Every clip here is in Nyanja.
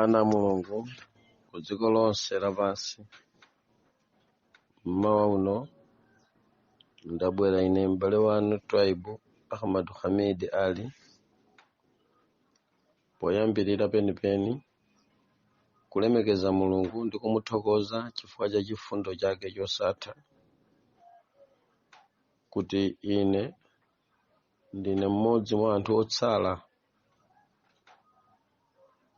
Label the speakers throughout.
Speaker 1: ana a mulungu ku dziko lonse lapansi mmawa uno ndabwera ine m'bale wanu twaibu ahmad hamid ali poyambirira penipeni kulemekeza mulungu ndi kumuthokoza chifukwa cha chifundo chake chosatha kuti ine ndine mmodzi mwa anthu otsala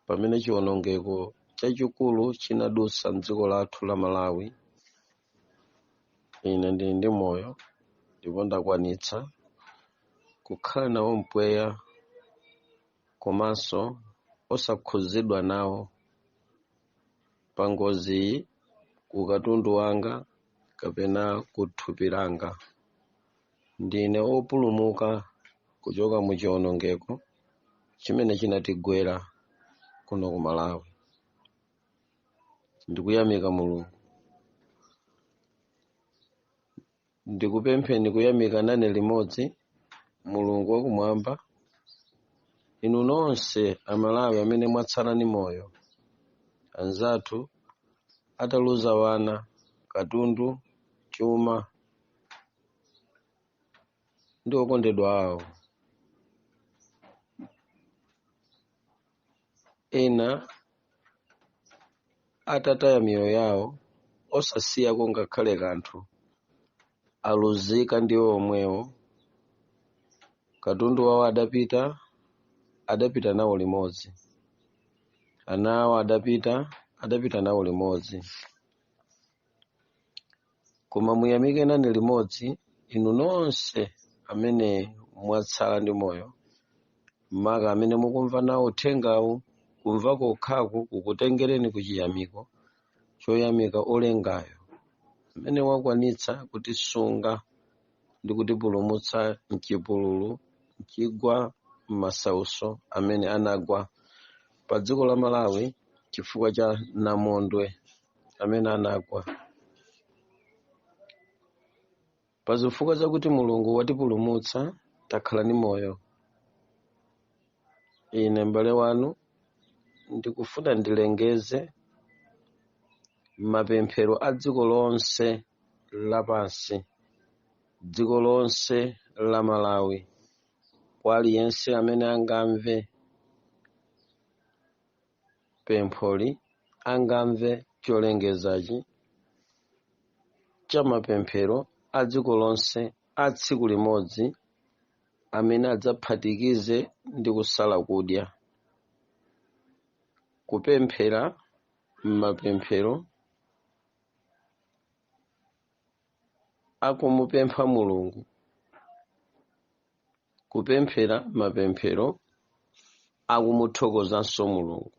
Speaker 1: pamene chiwonongeko chachikulu chinadutsa m'dziko lathu la malawi ine ndili ndi moyo ndipo ndakwanitsa kukhala nawo mpweya komanso osakhudzidwa nawo pa ngoziyi ku katundu wanga kapena ku thupi langa ndine opulumuka kuchoka mu chiwonongeko chimene chinatigwera kuno ku malawi ndikuyamika mulungu ndikupempheni kuyamika nane limodzi mulungu wakumwamba inu nonse amalawi amene mwatsala ni moyo anzathu ataluza wana katundu chuma ndi okondedwa awo ena atataya miyoyo yawo osasiyako ngakhale kanthu aluzika ndiwo omwewo katundu wawo adapita adapita nawo limodzi ana awo adapita adapita nawo limodzi koma muyamike nane limodzi inu nonse amene mwatsala ndi moyo maka amene mukumva nawo uthengawu kumva kokhaku kukutengereni ku chiyamiko choyamika olengayo amene wakwanitsa kutisunga ndi kutipulumutsa mchipululu mchigwa m'masauso amene anagwa pa dziko la malawi chifukwa cha namondwe amene anagwa pa zifukwa zakuti mulungu watipulumutsa takhala ni moyo ine m'bale wanu ndikufuna ndilengeze mapemphero a dziko lonse lapansi dziko lonse la malawi kwa aliyense amene angamve pempholi angamve cholengezachi cha mapemphero a dziko lonse a tsiku limodzi amene adzaphatikize ndi kusala kudya kupemphera mapemphero akumupempha mulungu kupemphera mapemphero akumuthokozanso mulungu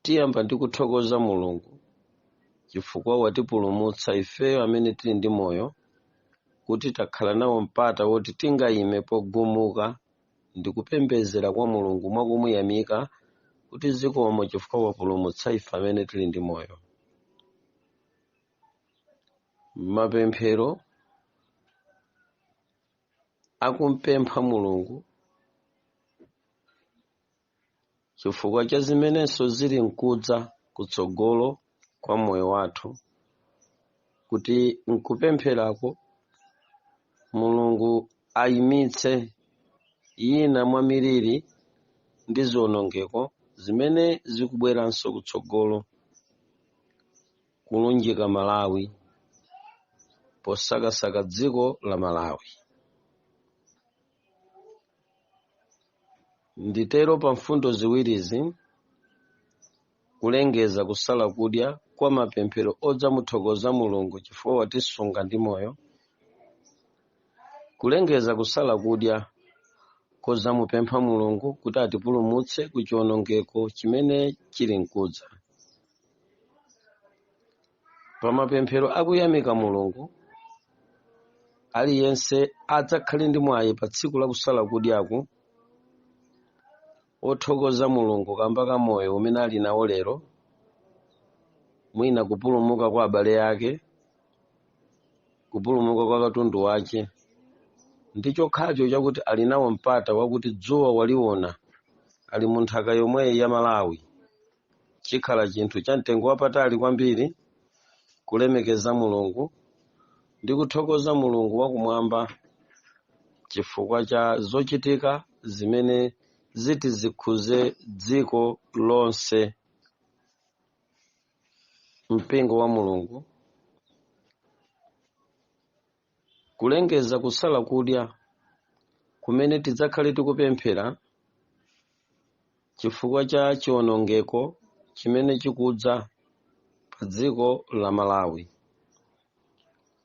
Speaker 1: tiyamba ndi kuthokoza mulungu chifukwa watipulumutsa ifeyo amene tili ndi moyo kuti takhala nawo mpata woti tingayime pogumuka ndi kupembedzera kwa mulungu mwakumuyamika kuti zikomo chifukwa wapulumutsa ife amene tili ndi moyo mapemphero akumpempha mulungu chifukwa cha zimenenso zili nkudza kutsogolo kwa moyo wathu kuti nkupempherako mulungu ayimitse ina mwa miliri ndi ziwonongeko zimene zikubweranso kutsogolo kulunjika Malawi posakasaka dziko la Malawi. Nditero pa mfundo ziwirizi kulengeza kusala kudya kwa mapemphero odzamuthokoza Mulungu chifukwa watisunga ndi moyo Kulengeza kusala kudya kodzamupempha Mulungu kuti atipulumutse ku chiwonongeko chimene chili nkudza. Pa mapemphero akuyamika Mulungu, aliyense adzakhale ndi mwayi pa tsiku la kusala kudyaku wothokoza Mulungu kamba ka moyo umene ali nawo lero, mwina kupulumuka kwa abale ake, kupulumuka kwa katundu wache, ndi chokhacho chakuti ali nawo mpata wakuti dzuwa waliona ali mu nthaka yomweyi ya Malawi. chikhala chinthu cha mtengo wapatali kwambiri kulemekeza mulungu ndi kuthokoza mulungu wakumwamba chifukwa cha zochitika zimene ziti zikhudze dziko lonse mpingo wa mulungu kulengeza kusala kudya kumene tidzakhale tikupemphera chifukwa cha chiwonongeko chimene chikudza pa dziko la Malawi.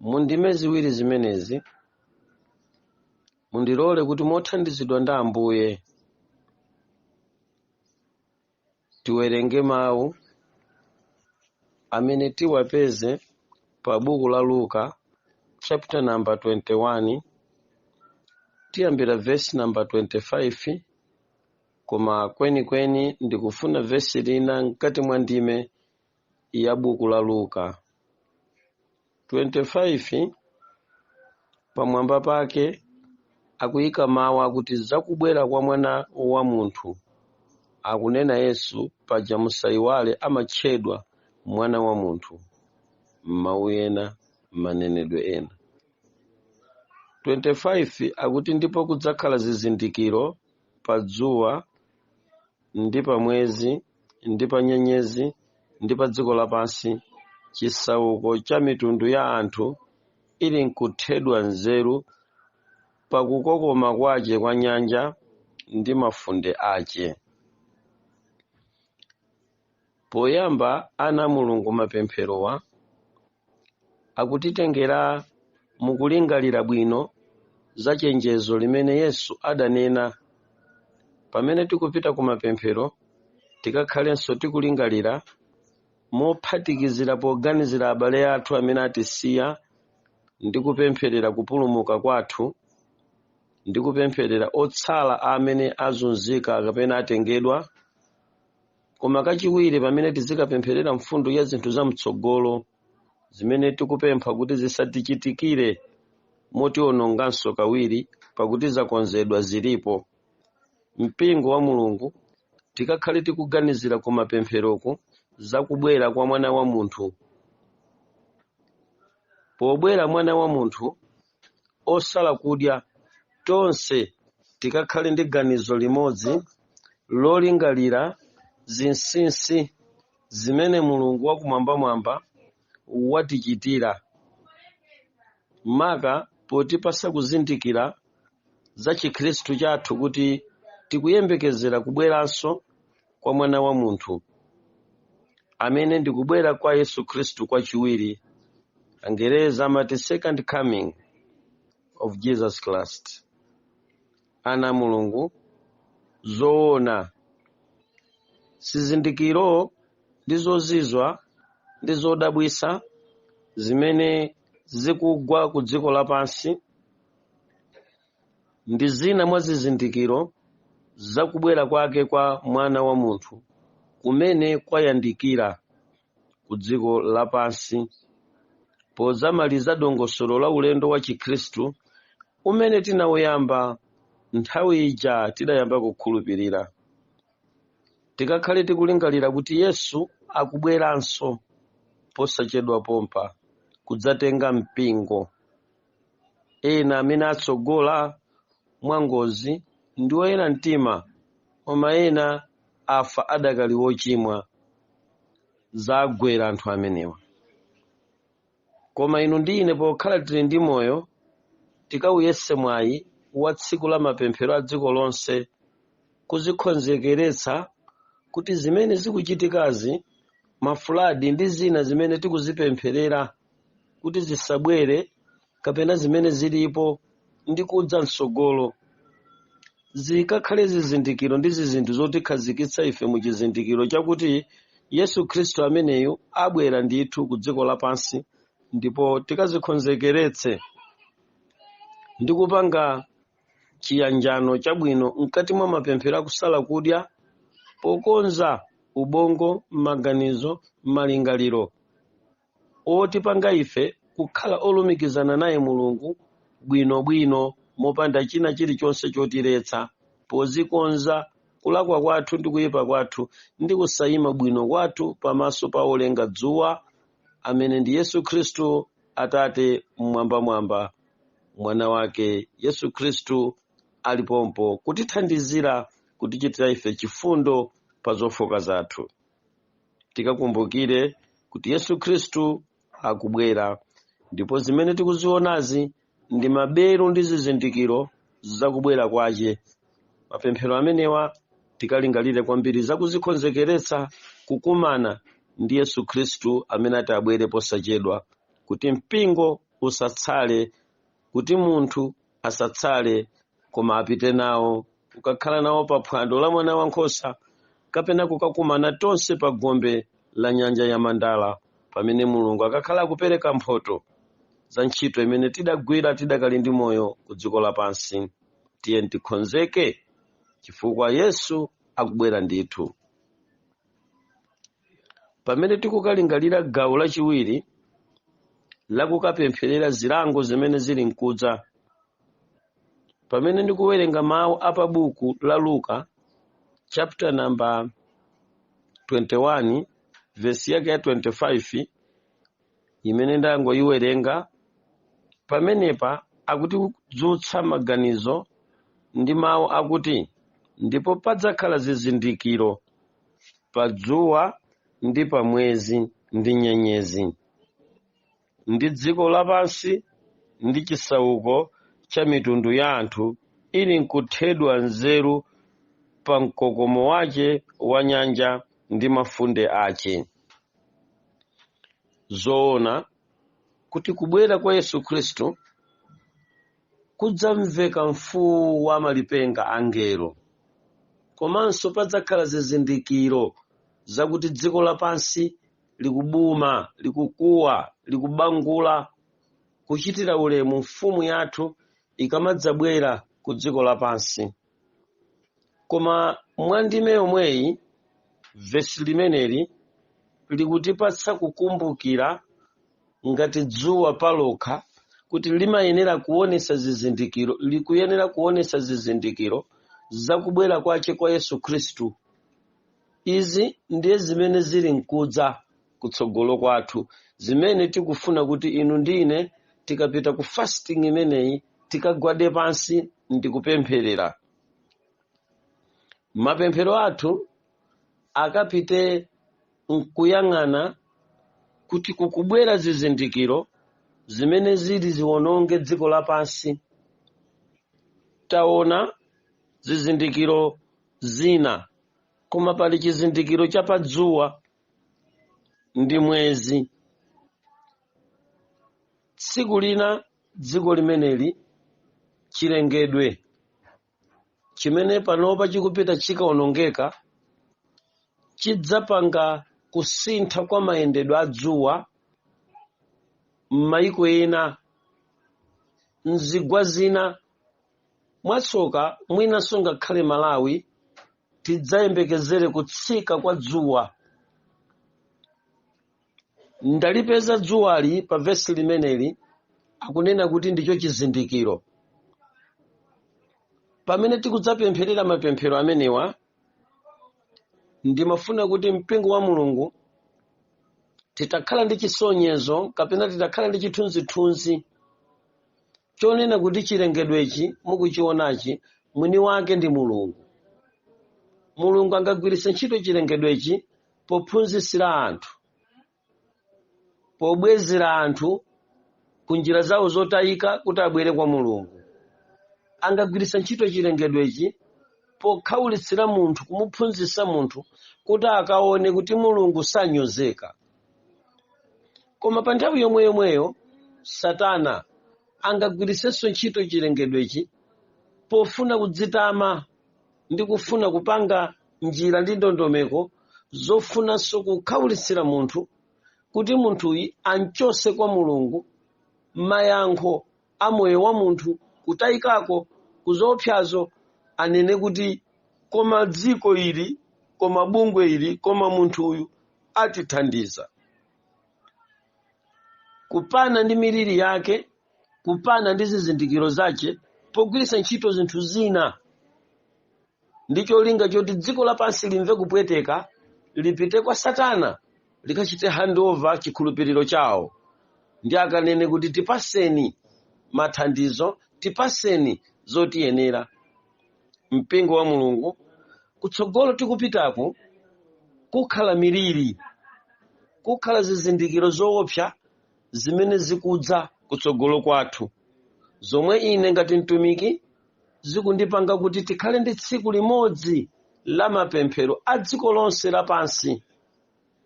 Speaker 1: Mu ndime ziwiri zimenezi, mundilole kuti mothandizidwa ndi Ambuye tiwerenge mawu amene tiwapeze pa buku la luka chapter number 21 tiyambira vesi namba 25 koma kwenikweni ndikufuna vesi lina mkati mwa ndime ya buku la luka 25 pamwamba pake akuyika mawu akuti zakubwera kwa mwana wa munthu akunena yesu paja musayiwale amatchedwa mwana wa munthu m'mawu ena m'manenedwe ena 25 akuti ndipo kudzakhala zizindikiro pa dzuwa ndi pa mwezi ndi pa nyenyezi ndi pa dziko lapansi chisauko cha mitundu ya anthu ili nkuthedwa nzeru pa kukokoma kwace kwa nyanja ndi mafunde ace Poyamba ana a Mulungu mapempherowa akutitengera mu kulingalira bwino za chenjezo limene Yesu adanena. Pamene tikupita ku mapemphero, tikakhalenso tikulingalira mophatikizira poganizira abale athu amene atisiya ndi kupempherera kupulumuka kwathu ndi kupempherera otsala amene azunzika kapena atengedwa koma kachiwiri pamene tizikapempherera mfundo ya zinthu za mtsogolo zimene tikupempha kuti zisatichitikire motiononganso kawiri pakuti zakonzedwa zilipo mpingo wa mulungu tikakhale tikuganizira ku mapempheroku za kubwera kwa mwana wa munthu pobwera mwana wa munthu osala kudya, tonse tikakhale ndi ganizo limodzi lolingalira zinsinsi zimene Mulungu wakumwambamwamba watichitira, maka potipatsa kuzindikira za Chikhristu chathu kuti tikuyembekezera kubweranso kwa mwana wa munthu amene ndikubwera kwa yesu khristu kwachiwiri angereza amati second coming of jesus christ ana a mulungu zoona zizindikiro ndi zozizwa ndi zodabwisa zimene zikugwa ku dziko lapansi ndi zina mwa zizindikiro za kubwera kwake kwa Mwana wa munthu kumene kwayandikira ku dziko lapansi. Podzamaliza dongosolo la ulendo wa Chikhristu umene tinauyamba nthawi ija tidayamba kukhulupirira, tikakhale tikulingalira kuti Yesu akubweranso posachedwa pompa kudzatenga mpingo Ena amene atsogola mwangozi ndi oyera mtima, koma ena afa adakali ochimwa. Zagwera anthu amenewa. Koma inu ndi ine pokhala tili ndi moyo, tikauyese mwayi wa tsiku la mapemphero a dziko lonse kudzikonzekeretsa kuti zimene zikuchitikazi, mafuladi ndi zina zimene tikuzipempherera, kuti zisabwere kapena zimene zilipo ndi kudza mtsogolo zikakhale zizindikiro ndi zizinthu zotikhazikitsa ife mu chizindikiro chakuti yesu khristu ameneyu abwera ndithu ku dziko lapansi ndipo tikadzikonzekeretse ndi kupanga chiyanjano chabwino mkati mwa mapemphero akusala kudya pokonza ubongo m'maganizo m'malingaliro otipanga ife kukhala olumikizana naye Mulungu bwino bwino mopanda china chilichonse chotiletsa podzikonza kulakwa kwathu ndi kuyipa kwathu ndi kusayima bwino kwathu pamaso pa olenga dzuwa amene ndi Yesu Khristu Atate mmwambamwamba mwana wake Yesu Khristu ali pompo kutithandizira kutichitira ife chifundo pa zofooka zathu tikakumbukire kuti yesu khristu akubwera ndipo zimene tikuzionazi ndi mabelu ndi zizindikiro zakubwera kwace mapemphero amenewa tikalingalire kwambiri zakudzikonzekeretsa kukumana ndi yesu khristu amene ati abwere posachedwa kuti mpingo usatsale kuti munthu asatsale koma apite nawo kukakhala nawo pa phwando la mwana wankhosa kapena kukakumana tonse pa gombe la nyanja ya mandala pamene mulungu akakhala akupereka mphoto za ntchito imene tidagwira tidakali ndi moyo ku dziko lapansi tiyeni tikonzeke chifukwa yesu akubwera ndithu pamene tikukalingalira gawo lachiwiri lakukapempherera zilango zimene zili mkudza pamene ndikuwerenga mawu a pa buku la luka chapter number 21 vesi yake ya 25 imene ndangoyiwerenga pamenepa akutidzutsa maganizo ndi mawu akuti ndipo padzakhala zizindikiro pa dzuwa ndi pa mwezi ndi nyenyezi ndi dziko lapansi ndi chisauko cha mitundu ya anthu ili nkuthedwa nzeru pa mkokomo wace wa nyanja ndi mafunde ace. Zoona kuti kubwera kwa Yesu Khristu kudzamveka mfuwu wa malipenga a angelo, komanso padzakhala zizindikiro zakuti dziko lapansi likubuma likukuwa likubangula kuchitira ulemu mfumu yathu ikamadzabwera ku dziko lapansi koma mwa ndime yomweyi vesi limeneli likutipatsa kukumbukira ngati dzuwa palokha kuti limayenera kuonesa zizindikiro likuyenera kuonesa zizindikiro zakubwera kwache kwa yesu khristu Izi ndiye zimene zili nkudza kutsogolo kwathu, zimene tikufuna kuti inu ndi ine tikapita ku fasting imeneyi tikagwade pansi ndi kupempherera. Mapemphero athu akapite nkuyang'ana kuti kukubwera zizindikiro zimene zili ziwononge dziko lapansi. Taona zizindikiro zina. koma pali chizindikiro cha pa dzuwa ndi mwezi tsiku lina dziko limeneli chilengedwe chimene panopa chikupita chikaonongeka chidzapanga kusintha kwa mayendedwe a dzuwa m'mayiko ena mzigwa zina mwatsoka mwinanso ngakhale malawi tidzayembekezere kutsika kwa dzuwa ndalipeza dzuwali pa vesi limeneli akunena kuti ndicho chizindikiro pamene tikudzapempherera mapemphero amenewa ndimafuna kuti mpingo wa mulungu titakhala ndi chisonyezo kapena titakhala ndi chithunzithunzi chonena kuti chilengedwechi mukuchionachi mwini wake ndi mulungu mulungu angagwiritse ntchito chilengedwechi pophunzitsira anthu pobwezera anthu ku njira zawo zotayika kuti abwere kwa mulungu angagwiritsa ntchito chilengedwechi pokhaulitsira munthu kumuphunzitsa munthu kuti akaone kuti mulungu sanyozeka koma pa nthawi yomweyomweyo satana angagwiritsenso ntchito chilengedwechi pofuna kudzitama ndi kufuna kupanga njira ndi ndondomeko zofunanso kukhaulitsira munthu kuti munthuyi amchose kwa mulungu mayankho a moyo wa munthu kutayikako ku zoopsazo anene kuti koma dziko ili koma bungwe ili koma munthu uyu atithandiza kupana ndi miliri yake kupana ndi zizindikiro zace pogwiritsa ntchito zinthu zina ndi cholinga choti dziko lapansi limve kupweteka lipite kwa satana likachite handover chikhulupiriro chawo ndi akanene kuti tipaseni mathandizo tipaseni zotiyenera mpingo wa mulungu kutsogolo tikupitaku kukhala miliri kukhala zizindikiro zoopsa zimene zikudza kutsogolo kwathu zomwe ine ngati mtumiki zikundipanga kuti tikhale ndi tsiku limodzi la mapemphero a dziko lonse lapansi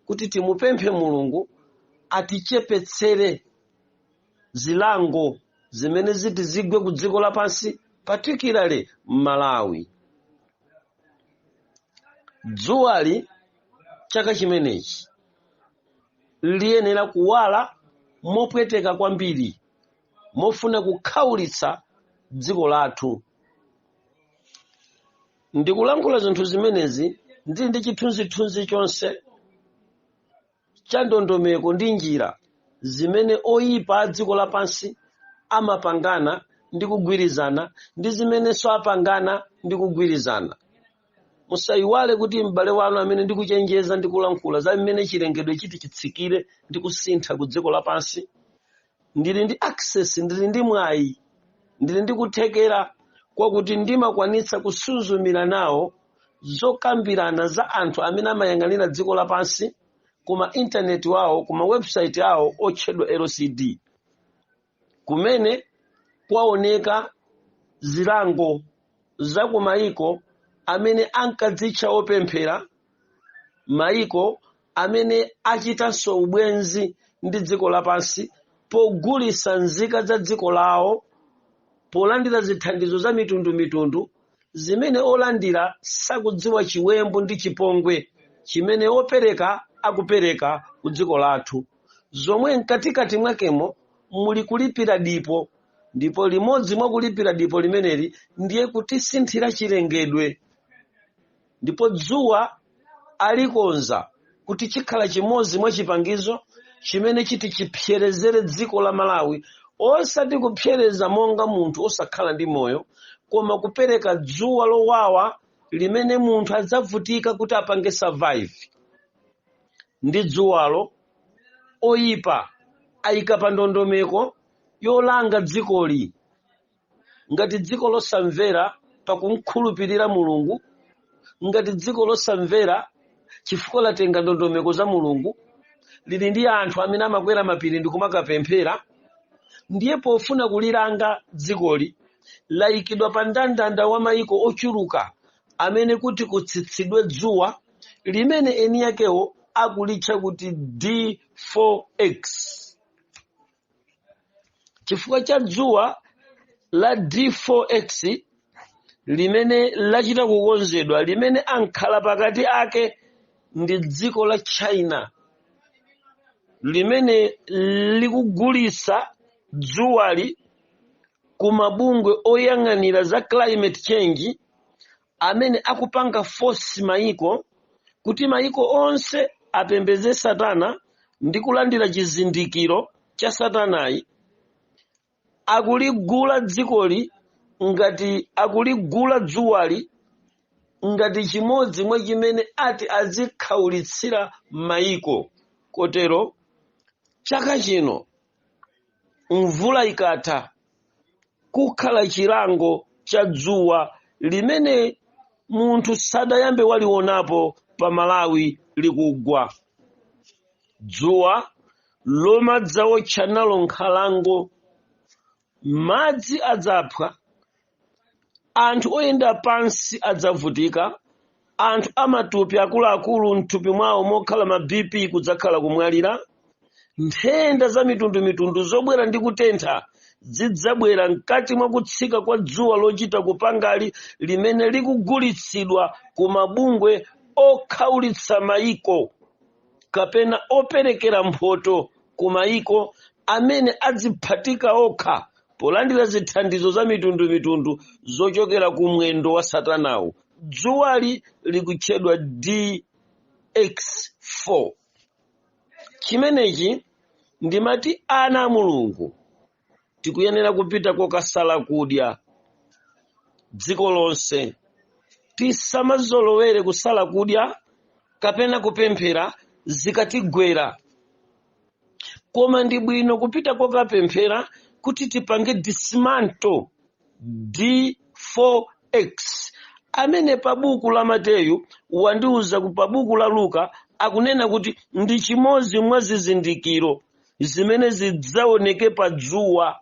Speaker 1: kuti timupemphe mulungu atichepetsere zilango zimene ziti zigwe ku dziko lapansi particularly m'malawi dzuwali chaka chimenechi liyenera kuwala mopweteka kwambiri mofuna kukhaulitsa dziko lathu ndikulankhula zinthu zimenezi ndili ndi chithunzithunzi chonse cha ndondomeko ndi njira zimene oyipa a dziko lapansi amapangana ndi kugwirizana ndi zimenenso apangana ndi kugwirizana musayiwale kuti m'bale wanu amene ndikuchenjeza ndi kulankhula za mmene chilengedwe chiti chitsikire ndi kusintha ku dziko lapansi ndili ndi access ndili ndi mwayi ndili ndi kuthekera kwakuti ndimakwanitsa kusuzumira nawo zokambirana za anthu amene amayang'anira dziko lapansi kuma intaneti wawo kuma website awo otchedwa lcd kumene kwaoneka zilango za kumayiko amene ankadzitcha opemphera maiko amene achitanso ubwenzi ndi dziko lapansi pogulitsa nzika za dziko lawo polandira zithandizo za mitundumitundu zimene olandira sakudziwa chiwembu ndi chipongwe chimene opereka akupereka ku dziko lathu zomwe mkatikati mwakemo muli kulipira dipo ndipo limodzi mwa kulipira dipo limeneli ndiye kutisinthira chilengedwe ndipo dzuwa alikonza kuti chikhala chimodzi mwa chipangizo chimene chiti chipserezere dziko la malawi osati kupsereza monga munthu osakhala ndi moyo koma kupereka dzuwa lowawa limene munthu adzavutika kuti apange survive ndi dzuwalo oyipa ayika pa ndondomeko yolanga dzikoli ngati dziko losamvera pakumkhulupirira mulungu ngati dziko losamvera chifukwa latenga ndondomeko za mulungu lili ndi anthu amene amakwera mapiri ndi kumakapemphera ndiye pofuna kulilanga dzikoli layikidwa pa mndandanda wa mayiko ochuluka amene kuti kutsitsidwe dzuwa limene eni yakewo akulitcha kuti d4x chifukwa cha dzuwa la d4x limene lachita kukonzedwa limene amkhalapakati ake ndi dziko la china limene likugulitsa dzuwali ku mabungwe oyang'anira za climate change amene akupanga force maiko kuti maiko onse apembedze satana ndi kulandira chizindikiro cha satanayi akuligula dzikoli ngati akuligula dzuwali ngati chimodzi mwa chimene ati azikhaulitsira maiko kotero chaka chino mvula ikatha kukhala chilango cha dzuwa limene munthu sadayambe walionapo pa malawi likugwa dzuwa lomwe adzawotcha nalo nkhalango madzi adzaphwa anthu oyenda pansi adzavutika anthu amatupi akuluakulu mthupi mwawo mokhala ma bp kudzakhala kumwalira nthenda za mitundumitundu zobwera ndi kutentha zidzabwera mkati mwa kutsika kwa dzuwa lochita kupangali limene likugulitsidwa ku mabungwe okhaulitsa mayiko kapena operekera mphoto ku mayiko amene adziphatika okha polandira zithandizo za mitundumitundu zochokera ku mwendo wa satanawu dzuwali likutchedwa dx4 chimenechi ndimati ana a mulungu tikuyenera kupita kokasala kudya dziko lonse tisamazolowere kusala kudya kapena kupemphera zikatigwera koma ndi bwino kupita kokapemphera kuti tipange dismantle d4x amene pa buku la mateyu wandiuza pa buku la luka akunena kuti ndi chimodzi mwa zizindikiro zimene zidzaoneke pa dzuwa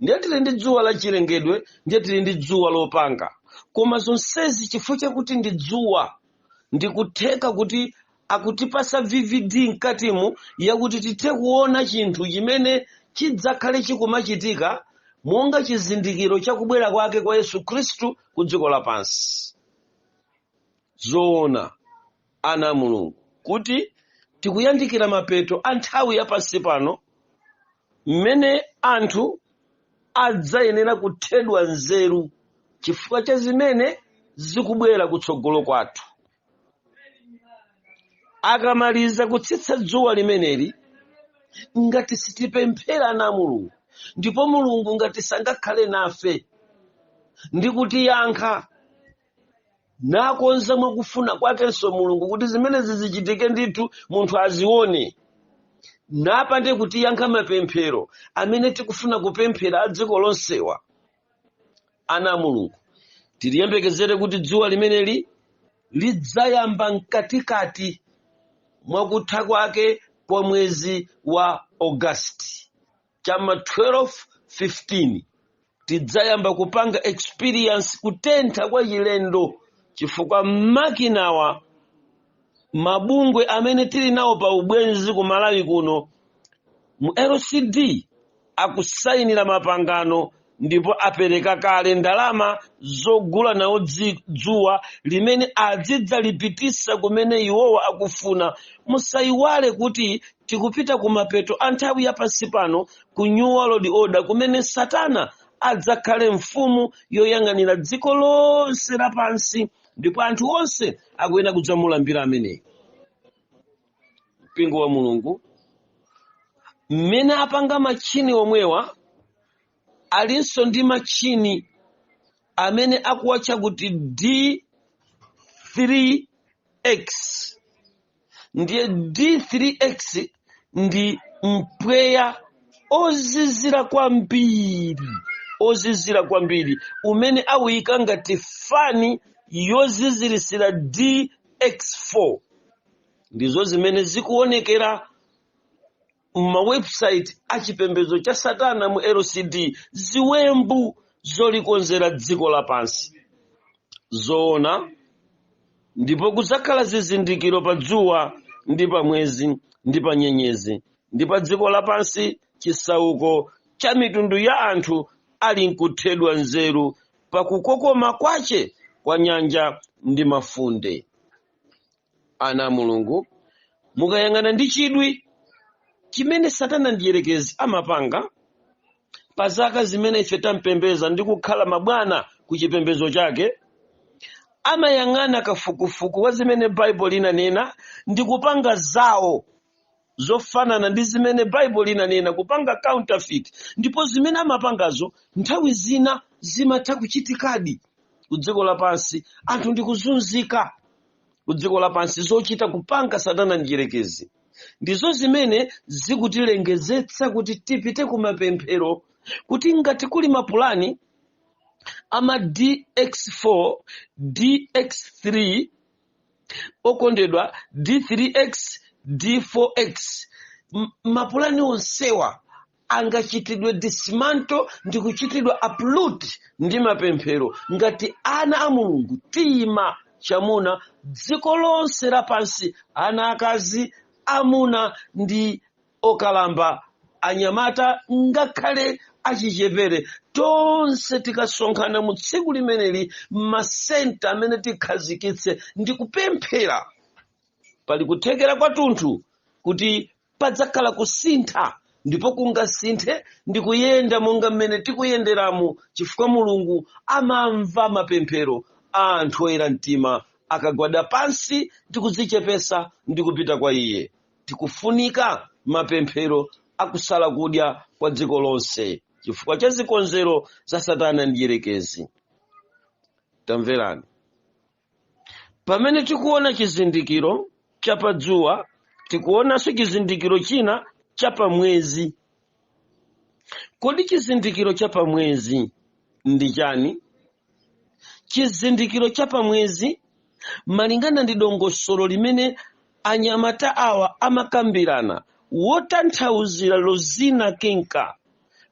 Speaker 1: ndiye tili ndi dzuwa la chilengedwe ndiye tili ndi dzuwa lopanga koma zonsezi chifukwa chakuti ndi dzuwa ndikutheka kuti akutipasa vivid mkatimu yakuti tithe kuona chinthu chimene chidzakhale chikumachitika monga chizindikiro cha kubwera kwake kwa yesu khristu ku dziko lapansi zoona ana a mulungu kuti tikuyandikira mapeto a nthawi ya pansi pano mmene anthu adzayenera kuthedwa nzeru chifukwa cha zimene zikubwera kutsogolo kwathu akamaliza kutsitsa dzuwa limeneli ngati sitipemphera ana a mulungu ndipo mulungu ngati sangakhale nafe ndi kutiyankha nakonza mwakufuna kwakenso mulungu kuti zimenezi zizichitika ndithu munthu azione napande kutiyankha mapemphero amene tikufuna kupemphera a dziko lonsewa ana a mulungu tiliyembekezere kuti dzuwa limeneli lidzayamba mkatikati mwakutha kwake kwa mwezi wa ogasiti chama 12 15 tidzayamba kupanga experience kutentha kwa chilendo chifukwa makinawa mabungwe amene tili nawo pa ubwenzi ku malawi kuno mu lcd akusayinira mapangano ndipo apereka kale ndalama zogula nawo dzi- dzuwa limene azidzalipitisa kumene iwowa akufuna musayiwale kuti tikupita ku mapeto a nthawi ya pansi pano ku new world order kumene satana adzakhale mfumu yoyang'anira dziko lonse lapansi ndipo anthu onse akuyenera kudzamulambira ameneyi mpingo wa mulungu mmene apanga matchini omwewa alinso ndi matchini amene akuwatcha kuti d3x ndiye d3x ndi mpweya ozizira kwambiri ozizira kwambiri umene awuyika ngati fani yozizirisira dx4 ndizo zimene zikuonekera m'ma website a chipembedzo cha satana mu lcd ziwembu zolikonzera dziko lapansi zoona ndipo kudzakhala zizindikiro pa dzuwa ndi pa mwezi ndi pa nyenyezi ndi pa dziko lapansi chisauko cha mitundu ya anthu ali nkuthedwa nzeru pa kukokoma kwache kwa nyanja ndi mafunde ana a mulungu mukayang'ana ndi chidwi chimene satana mdierekezi amapanga pa zaka zimene ife tampembeza ndi kukhala mabwana ku chipembezo chake amayang'ana kafukufuku wa zimene baibulo linanena ndi kupanga zawo zofanana ndi zimene baibulo linanena kupanga counterfeit ndipo zimene amapangazo nthawi zina zimatha kuchitikadi ku dziko lapansi anthu ndikuzunzika ku dziko lapansi zochita kupanga satana mdyerekezi ndizo zimene zikutilengezetsa kuti tipite ku mapemphero kuti ngati kuli mapulani ama dx4 dx3 okondedwa d3x d4x mapulani onsewa angachitidwe dismantle ndi kuchitidwa uproot ndi mapemphero ngati ana a mulungu tiyima chamuna dziko lonse lapansi ana akazi amuna ndi okalamba anyamata ngakhale achichepere tonse tikasonkhana mu tsiku limeneli masenta amene tikhazikitse ndi kupemphera pali kuthekera kwathunthu kuti padzakhala kusintha ndipo kungasinthe ndi kuyenda monga mmene tikuyenderamu chifukwa mulungu amamva mapemphero a anthu oyera mtima akagwada pansi ndi kudzichepesa ndi kupita kwa iye tikufunika mapemphero akusala kudya kwa dziko lonse chifukwa cha zikonzero za satana mdyerekezi tamverani pamene tikuona chizindikiro cha padzuwa tikuonanso chizindikiro china cha pamwezi Kodi chizindikiro cha pamwezi ndi chani? Chizindikiro cha pamwezi malingana ndi dongosolo limene anyamata awa amakambirana wotanthauzira Rosina Kinka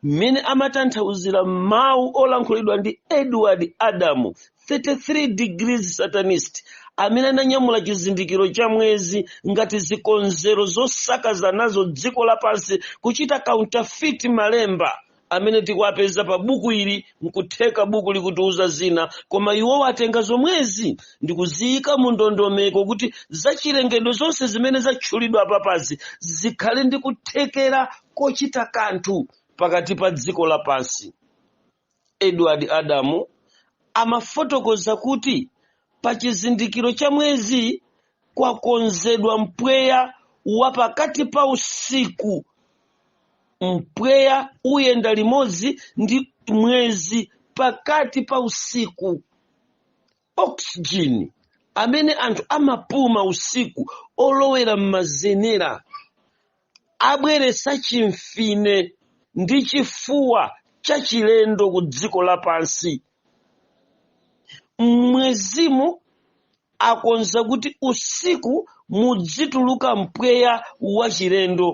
Speaker 1: mmene amatanthauzira mawu olankhulidwa ndi Edward Adamu 33 degrees satanist amene ananyamula chizindikiro cha mwezi ngati zikonzero zosakaza nazo dziko lapansi kuchita counterfeit malemba amene tikuwapeza pa buku ili nkutheka buku likutiuza zina koma iwowa atenga zomwezi ndikuziyika mu ndondomeko kuti zachilengedwe zonse zimene zatchulidwa apapazi zikhale ndi kuthekera kochita kanthu pakati pa dziko lapansi Edward Adamu amafotokoza kuti pa chizindikiro cha mwezi kwakonzedwa mpweya wa pakati pa usiku. Mpweya uyenda limodzi ndi mwezi pakati pa usiku. oxygen amene anthu amapuma usiku olowera m'mazenera abweretsa chimfine ndi chifuwa chachilendo ku dziko lapansi m'mwezimu akonza kuti usiku mudzituluka mpweya wachilendo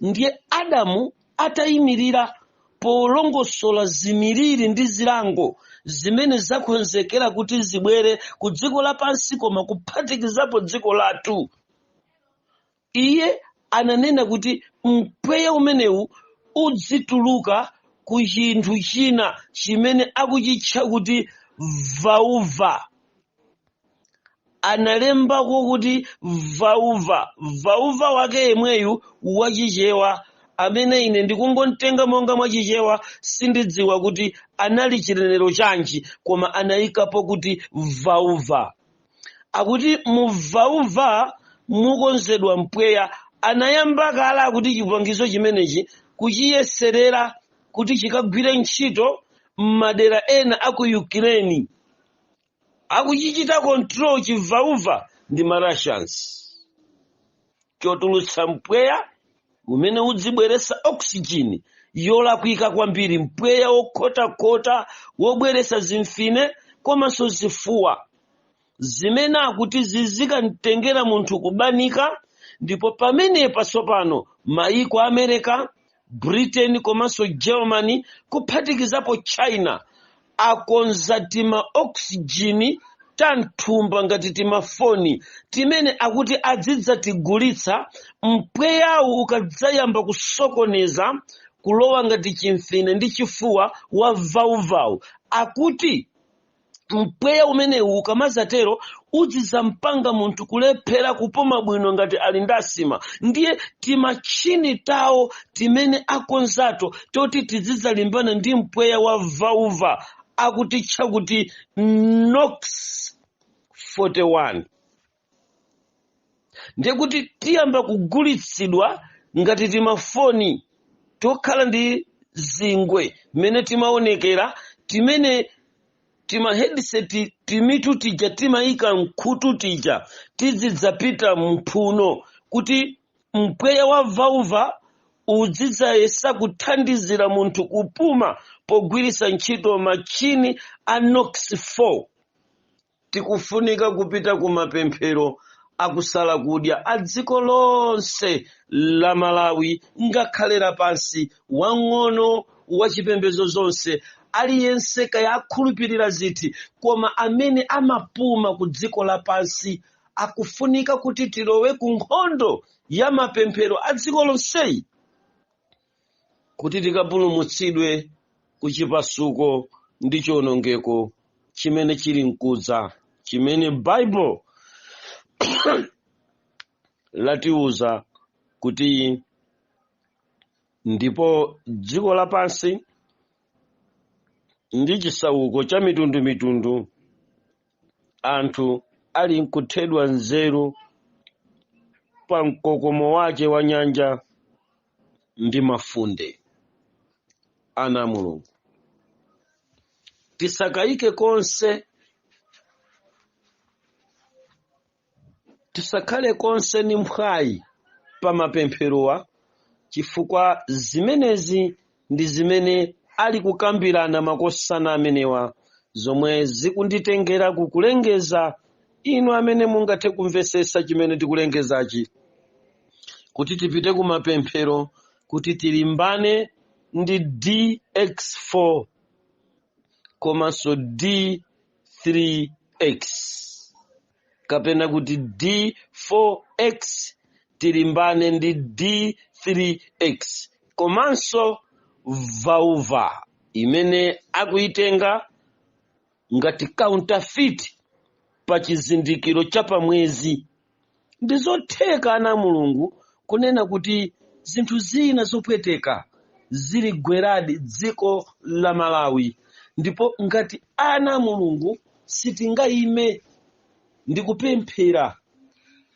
Speaker 1: ndiye adamu atayimirira polongosola za miliri ndi zilango zimene zakonzekera kuti zibwere ku dziko lapansi koma kuphatikizapo dziko lathu iye ananena kuti mpweya umenewu udzituluka ku chinthu china chimene akuchitcha kuti vauva analembako kuti vauva vauva wake yemweyu wachichewa amene ine ndikungomtenga monga mwachichewa sindidziwa kuti anali chinenero chanji koma anayikapo kuti vauva akuti mu vauva mukonzedwa mpweya anayamba kale akuti chipangizo chimenechi kuchiyeserera kuti chikagwire ntchito m'madera ena a ku ukraine akuchichita control chi vauva ndi ma russians chotulutsa mpweya umene udzibweresa oxygen yolakwika kwambiri mpweya wokhotakhota wobweresa zimfine komanso zifuwa zimene akuti zizikamtengera munthu kubanika ndipo pamenepa tsopano maiko a america britain komanso germany kuphatikizapo china akonza tima oxygen tanthumba ngati timafoni timene akuti adzidzatigulitsa mpweyawu ukadzayamba kusokoneza kulowa ngati chimfine ndi chifuwa wa vauvawu akuti mpweya umenewu ukamadzatero udzizampanga munthu kulephera kupuma bwino ngati ali ndi asthma ndiye timatchini tawoto timene akonzato toti tizidzalimbana ndi mpweya wa vauva akutitcha kuti nox 41 ndiye kuti tiyamba kugulitsidwa ngati timafoni tokhala ndi zingwe mmene timaonekera timene tima headset timitu tija timayika mkhutu tija tizidzapita m'mphuno kuti mpweya wa vauva uzidzayesa kuthandizira munthu kupuma pogwiritsa ntchito machini a nox 4 Tikufunika kupita ku mapemphero akusala kudya a dziko lonse la Malawi ngakhale lapansi, wang'ono, wachipembedzo zonse, aliyense kaya akhulupirira ziti, koma amene amapuma ku dziko lapansi akufunika kuti tilowe ku nkhondo ya mapemphero a dziko lonseyi. kuti tikapulumutsidwe ku chipasuko ndi chiwonongeko chimene chili mkudza chimene bible latiuza kuti ndipo dziko lapansi ndi chisauko cha mitundumitundu anthu ali nkuthedwa nzeru pa mkokomo wake wa nyanja ndi mafunde ana a mulungu tisakayike konse tisakhale konse ni mphwayi pa mapempherowa chifukwa zimenezi ndi zimene ali kukambirana makosana amenewa zomwe zikunditengera ku kulengeza inu amene mungathe kumvetsetsa chimene tikulengezachi kuti tipite ku mapemphero kuti tilimbane ndi dx4 komanso d3x kapena kuti d4x tilimbane ndi d3x komanso vauva imene akuitenga ngati counterfeit pa chizindikiro cha pamwezi ndi zotheka ana a mulungu kunena kuti zinthu zina zopweteka ziligweradi dziko la malawi ndipo ngati ana a mulungu sitingaime ndi kupemphera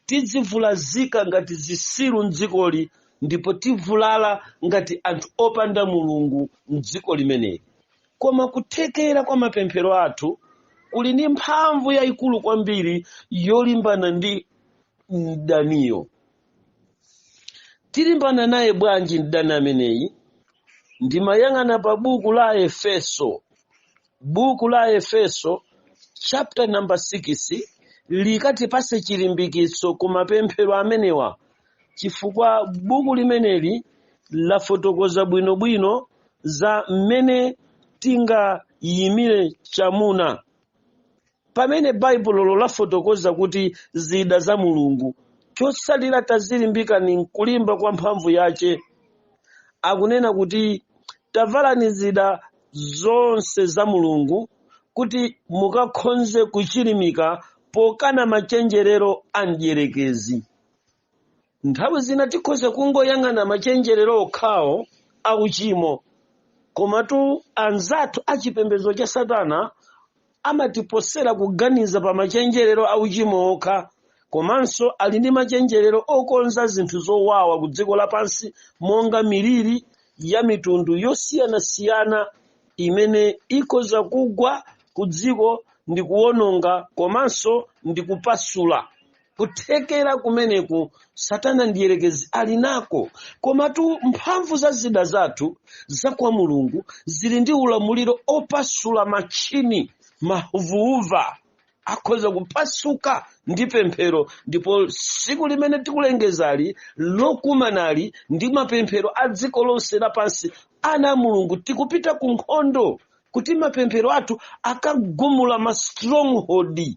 Speaker 1: tidzivulazika ngati zisiru mdzikoli ndipo tivulala ngati anthu opanda mulungu mdziko limeneli koma kuthekera kwa mapemphero athu kuli ndi mphamvu yayikulu kwambiri yolimbana ndi mdaniyo tilimbana naye bwanji mdani ameneyi ndimayang'ana pa buku la efeso buku la efeso chapter number 6 likatipatse chilimbikitso ku mapemphero amenewa chifukwa buku limeneli lafotokoza bwinobwino za mmene tingayimire chamuna pamene baibulolo lafotokoza kuti zida za mulungu chotsalira tadzilimbikani m'kulimba kwa mphamvu yace akunena kuti tavalani zida zonse za mulungu kuti mukakhonze kuchilimika pokana machenjerero a mdierekezi Nthawi zina tikhoza kungoyang'ana machenjerero okhawo a uchimo, komatu anzathu a chipembedzo cha Satana amatiposera kuganiza pa machenjerero a uchimo okha, komanso ali ndi machenjerero okonza zinthu zowawa ku dziko lapansi monga miliri ya mitundu yosiyanasiyana imene ikhoza kugwa ku dziko ndi kuwononga komanso ndi kupasula. kuthekera kumeneku satana mdierekezi ali nako komatu mphamvu za zida zathu za kwa mulungu zili ndi ulamuliro opasula malinga mavauva akhoza kupasuka ndi pemphero ndipo tsiku limene tikulengezali lokumanali ndi mapemphero a dziko lonse lapansi ana a mulungu tikupita ku nkhondo kuti mapemphero athu akagumule ma stronghold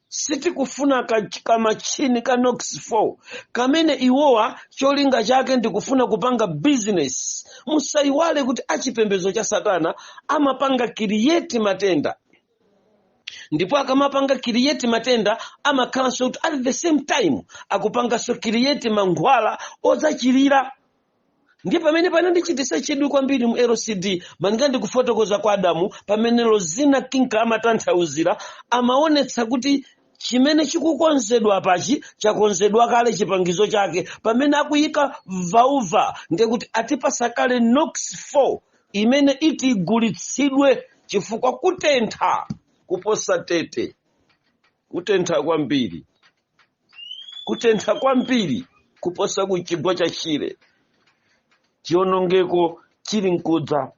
Speaker 1: sitikufuna ka- kamachini ka nox 4 kamene iwowa cholinga chake ndikufuna kupanga bizinesi musayiwale kuti achipembedzo cha satana amapanga kiriyeti matenda ndipo akamapanga kiriyeti matenda amakhalanso kuti at the same time akupanganso kiriyeti mankhwala odzachilira ndiye pamene panandichitisa chidwi kwambiri mu lcd malinga ndi kufotokoza kwa adamu pamene lozina King amatanthauzira amaonetsa kuti chimene chikukonzedwa apachi chakonzedwa kale chipangizo chake pamene akuyika vauva ndiye kuti atipasa kale nox 4 imene iti igulitsidwe chifukwa kutentha kuposa tete kutentha kwambiri kutentha kwambiri kuposa ku chigwa cha shire chionongeko chili nkudza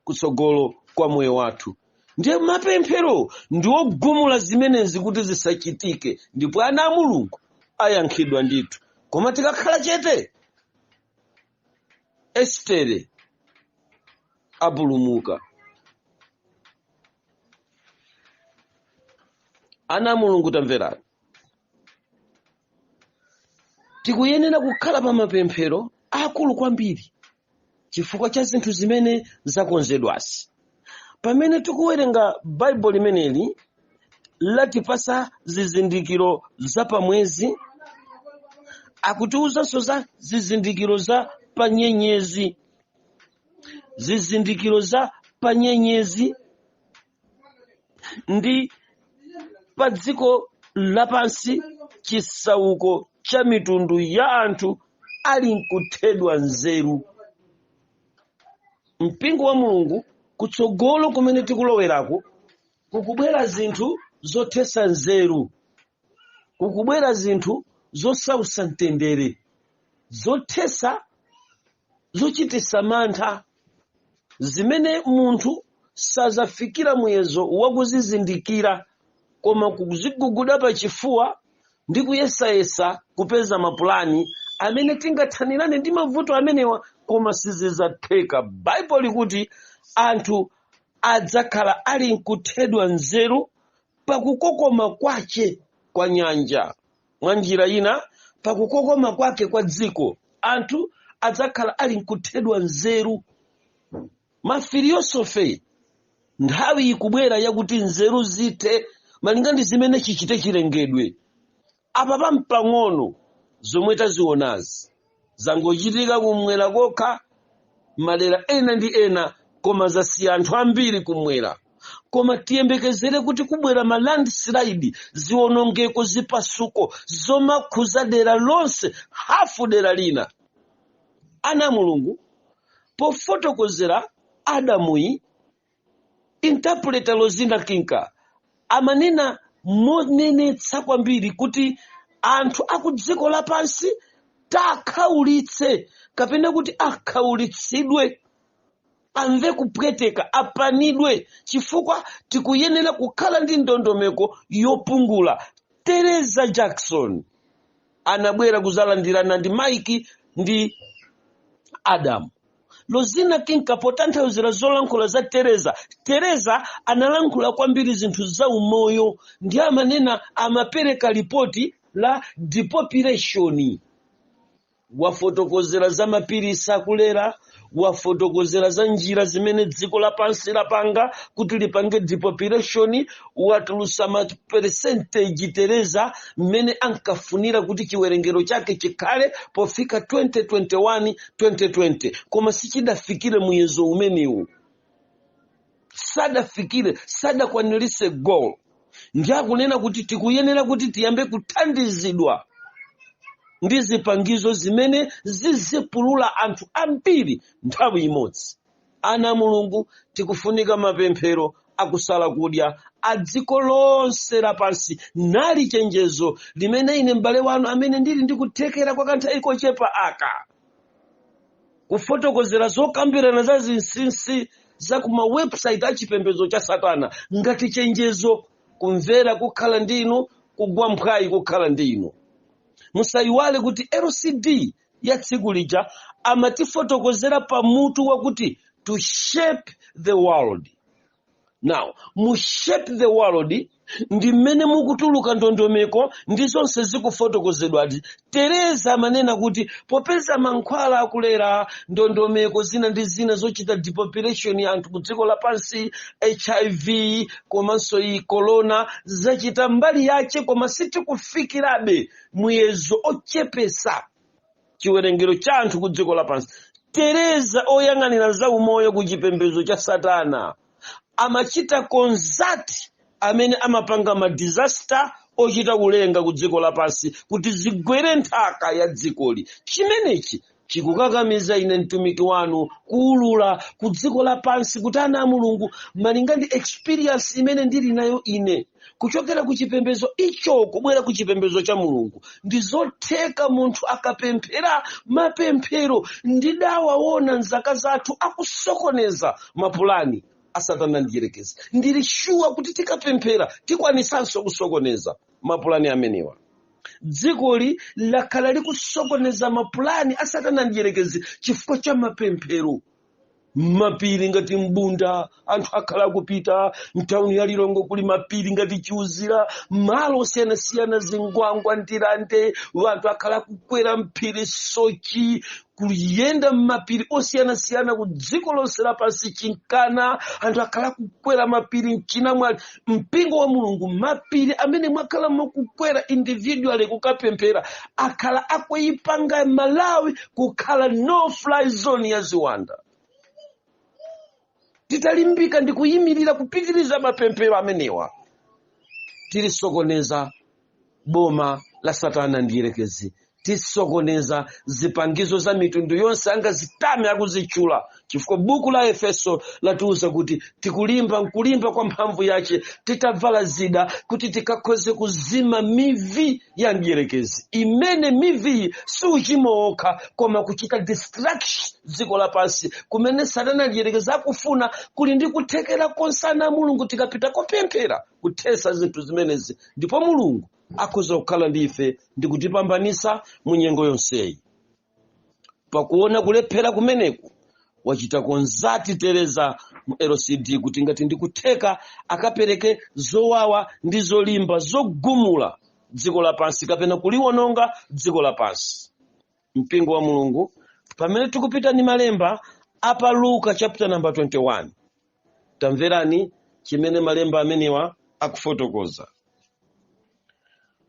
Speaker 1: kutsogolo kwa moyo wathu ndiye mapemphero ndiwogumula zimenezi kuti zisachitike ndipo ana a mulungu ayankhidwa ndithu koma tikakhala chete estere apulumuka ana a mulungu tamverani tikuyenera kukhala pa mapemphero akulu kwambiri chifukwa cha zinthu zimene zakonzedwazi pamene tikuwerenga baibulo limeneli latipasa zizindikiro za pamwezi akutiwuzanso za zizindikiro za panyenyezi zizindikiro za panyenyezi ndi pa dziko lapansi chisauko cha mitundu ya anthu ali nkuthedwa nzeru mpingo wa mulungu kutsogolo kumene tikulowerako kukubwera zinthu zothesa nzeru kukubwera zinthu zosowesa mtendere zothesa zochitisa mantha zimene munthu sazafikira muyezo wakuzizindikira koma kuziguguda pa chifuwa ndi kuyesayesa kupeza mapulani amene tingathanirane ndi mavuto amenewa koma sizizatheka baibulo likuti anthu adzakhala ali nkuthedwa nzeru pakukokoma kwace kwa nyanja. Mwa njira ina, pakukokoma kwake kwa dziko, anthu adzakhala ali nkuthedwa nzeru. Mafiliyosofe nthawi ikubwera yakuti nzeru zithe malinga ndi zimene chichite chilengedwe. apa pampang'ono zomwe tazionazi zangochitika kumwera kokha madera ena ndi ena koma zasiya anthu ambiri kumwera koma tiyembekezere kuti kubwera ma landslide zionongeko zipasuko zomakhuza dera lonse hafu dera lina ana a mulungu pofotokozera adamuyi Interpreter Lozina Kinka amanena monenetsa kwambiri kuti anthu akudziko lapansi takhaulitse kapena kuti akhaulitsidwe amve kupweteka apanidwe chifukwa tikuyenera kukhala ndi ndondomeko yopungula teresa jackson anabwera kuzalandirana ndi mike ndi adamu lozina kinka potanthauzira zolankhula za teresa teresa analankhula kwambiri zinthu za umoyo ndi amanena amapereka ripoti la depopulation wafotokozera za mapiritsi akulera wafotokozera za njira zimene dziko lapansi lapanga kuti lipange depopulation watulusa ma percentage teresa mmene ankafunira kuti chiwerengero chake chikhale pofika 2021 2020 koma sichidafikire muyezo umenewu sadafikire sadakwanirise goal ndi akunena kuti tikuyenera kuti tiyambe kuthandizidwa ndi zipangizo zimene zizipulula anthu ambiri nthawi imodzi ana a mulungu tikufunika mapemphero akusala kudya a dziko lonse lapansi nali chenjezo limene ine m'bale wanu amene ndili ndikuthekera kwa kanthawi kochepa aka kufotokozera zokambirana za zinsinsi za ku ma website a chipembedzo cha satana ngati chenjezo kumvera kukhala ndi inu kugwa mphwayi kukhala ndi inu musayiwale kuti lcd ya tsiku lija amatifotokozera pa mutu wakuti to shape the world now mu shape the world ndi mmene mukutuluka ndondomeko ndi zonse zikufotokozedwadi teresa amanena kuti popeza mankhwala akulera ndondomeko zina ndi zina zochita depopulation ya anthu ku dziko lapansi hiv komanso iyi corona zachita mbali yake koma sitikufikirabe muyezo ochepesa chiwerengero cha anthu ku dziko lapansi teresa oyang'anira za umoyo ku chipembedzo cha satana amachita consult amene amapanga ma disaster ochita kulenga ku dziko lapansi kuti zigwere nthaka ya dzikoli chimenechi chikukakamiza ine mtumiki wanu kuulula ku dziko lapansi kuti ana a mulungu malinga ndi experience imene ndili nayo ine kuchokera ku chipembedzo icho kubwera ku chipembedzo cha mulungu ndi zotheka munthu akapemphera mapemphero ndidawaona mzaka zathu akusokoneza mapulani a satana mdierekezi ndili shuwa kuti tikapemphera tikwanisanso kusokoneza mapulani amenewa dzikoli lakhala likusokoneza mapulani a satana mdierekezi chifukwa cha mapemphero mapiri ngati mbunda anthu akhala akupita mtawuni ya lilongwe kuli mapiri ngati chiuzira malo osiyanasiyana zingwangwa ndirande anthu akhala akukwera mphiri soche kuyenda mmapiri osiyanasiyana ku dziko lonse lapansi chinkana anthu akhala akukwera mapiri mchinamwali mpingo wa mulungu mapiri amene mwakhala mukukwera individually kukapemphera akhala akuyipanga malawi kukhala no fly zone ya ziwanda titalimbika ndi kuyimirira kupitiriza mapemphero amenewa tilisokoneza boma la satana mdierekezi tisokoneza zipangizo za mitundu yonse angazitame akuzitchula chifukwa buku la efeso latiuza kuti tikulimba nkulimba kwa mphamvu yace titavala zida kuti tikakhoze kuzima mivi ya mdierekezi imene miviyi si uchimo wokha koma kuchita destruction dziko lapansi kumene satana mdierekezi akufuna kuli ndi kuthekera konse ana a mulungu tikapita kopemphera kuthesa zinthu zimenezi ndipo mulungu akhoza kukhala ndi ife ndi kutipambanitsa mu nyengo yonseyi pakuona kulephera kumeneku wachita konzati tereza mu lcd kuti ngati ndikutheka akapereke zowawa ndi zolimba zogumula dziko lapansi kapena kuliwononga dziko lapansi mpingo wa mulungu pamene tikupita ndi malemba apa luka chapter number 21 Tamverani chimene malemba amenewa akufotokoza.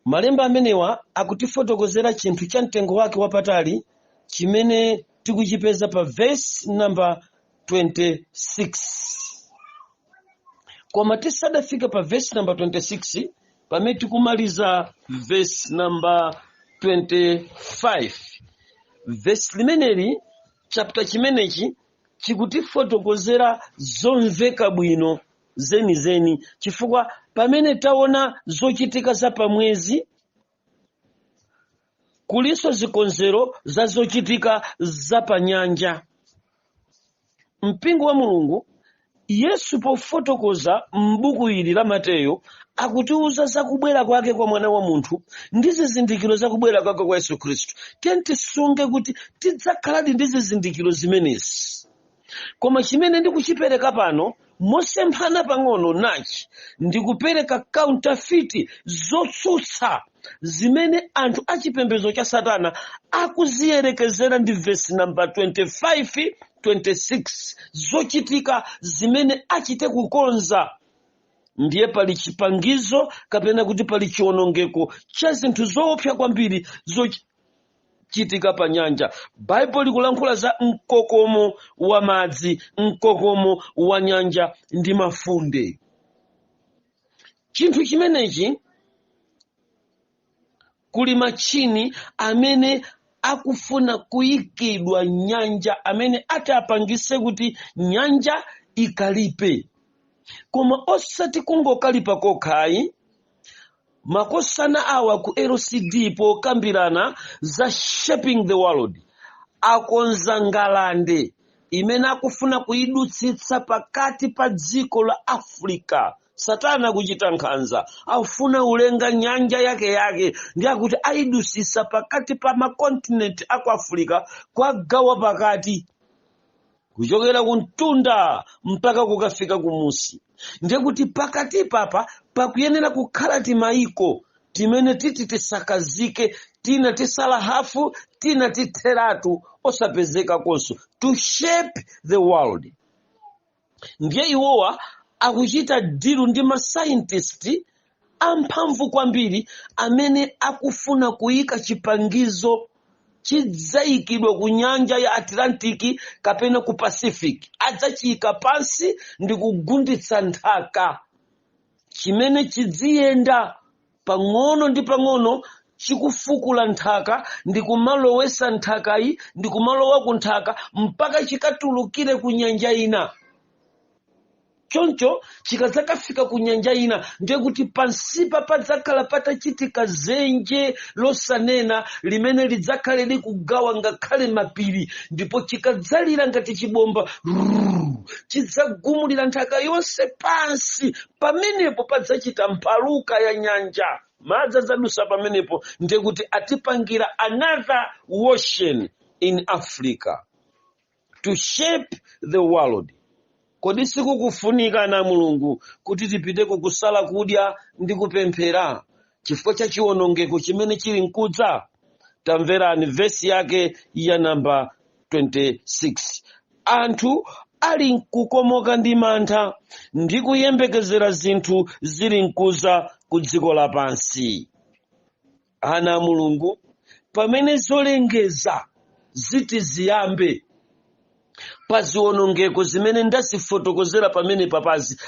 Speaker 1: Malemba amenewa akutifotokozera chinthu cha mtengo wake wapatali chimene tikuchipeza pa vesi namba 26. Koma tisadafika pa vesi namba 26 pamene tikumaliza vesi namba 25. Vesi limeneli chapter chimenechi chikutifotokozera zomveka bwino zenizeni chifukwa pamene taona zochitika za pamwezi kulinso zikonzero za zochitika za panyanja mpingo wa mulungu Yesu pofotokoza m'buku ili la Mateyo akutiuza za kubwera kwake kwa mwana wa munthu ndi zizindikiro za kubwera kwake kwa Yesu Khristu. Tiyeni tisunge kuti tidzakhaladi ndi zizindikiro zimenezi. Koma chimene ndikuchipereka pano mosemphana pang'ono nachi ndikupereka counterfeit zotsutsa zimene anthu achipembedzo cha satana akuziyerekezera ndi vesi namba 25 26 zochitika zimene achite kukonza ndiye pali chipangizo kapena kuti pali chiwonongeko cha zinthu zoopsa kwambiri zochitika pa nyanja baibulo likulankhula za mkokomo wa madzi mkokomo wa nyanja ndi mafunde chinthu chimenechi kuli machini amene akufuna kuyikidwa m'nyanja amene ati apangise kuti nyanja ikalipe koma osati kungokalipa kokhayi makosana awa ku lcd pokambirana za shaping the world akonza ngalande imene akufuna kuidutsitsa pakati pa dziko la africa satana akuchita nkhanza afuna ulenga nyanja yake yake ndi akuti ayidusisa pakati pa makontinenti a ku afirika kuwagawa pakati kuchokera ku mtunda mpaka kukafika kumusi ndiye akuti pakatipapa pakuyenera kukhala timayiko timene titi tisakazike tina tisala hafu tina titheratu osapezekakonso to shape the world ndiye iwowa akuchita dilu ndi masaintisti amphamvu kwambiri amene akufuna kuyika chipangizo chidzayikidwa ku nyanja ya atlantic kapena ku pacific adzachiyika pansi ndi kugunditsa nthaka chimene chidziyenda pang'ono ndi pang'ono chikufukula nthaka ndi kumalowesa nthakayi ndi kumalowako nthaka mpaka chikatulukire ku nyanja ina choncho chikadzakafika ku nyanja ina ndiye kuti pansipa padzakhala patachitika zenje losanena limene lidzakhale likugawa ngakhale mapiri ndipo chikadzalira ngati chibomba rrrr, chidzagumulira nthaka yonse pansi pamenepo padzachita mphaluka ya nyanja madzi adzadusa pamenepo ndiye kuti atipangira another ocean in africa to shape the world kodi sikukufunika ana a mulungu kuti tipite kukusala kudya ndi kupemphera chifukwa cha chiwonongeko chimene chili nkudza tamverani vesi yake ya namba 26 anthu ali nkukomoka ndi mantha ndi kuyembekezera zinthu zili nkuza ku dziko lapansi ana a mulungu pamene zolengeza ziti ziyambe pa ziwonongeko zimene ndazifotokozera pamene papazi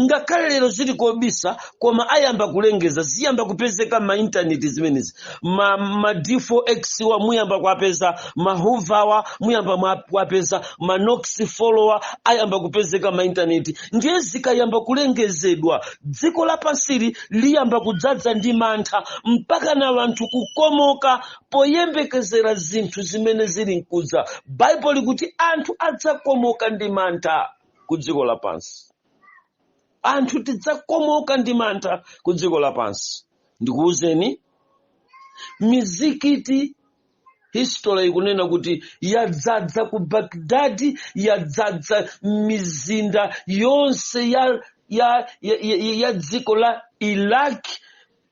Speaker 1: ngakhale lero zili kobisa koma ayamba kulengeza ziyamba kupezeka ma intaneti zimenezi ma, ma d4x wa muyamba kuwapeza ma huvawa muyamba kuwapeza ma nox follower ayamba kupezeka ma intaneti ndiye zikayamba kulengezedwa dziko lapansili liyamba kudzadza ndi mantha mpaka na wanthu kukomoka poyembekezera zinthu zimene zili nkudza baibulo likuti anthu adzakomoka ndi mantha ku dziko lapansi anthu tidzakomoka ndi mantha ku dziko lapansi ndikuwuzeni mizikiti history ikunena kuti yadzadza ku Baghdad yadzadza mizinda yonse ya, ya, ya, ya, ya dziko la Iraq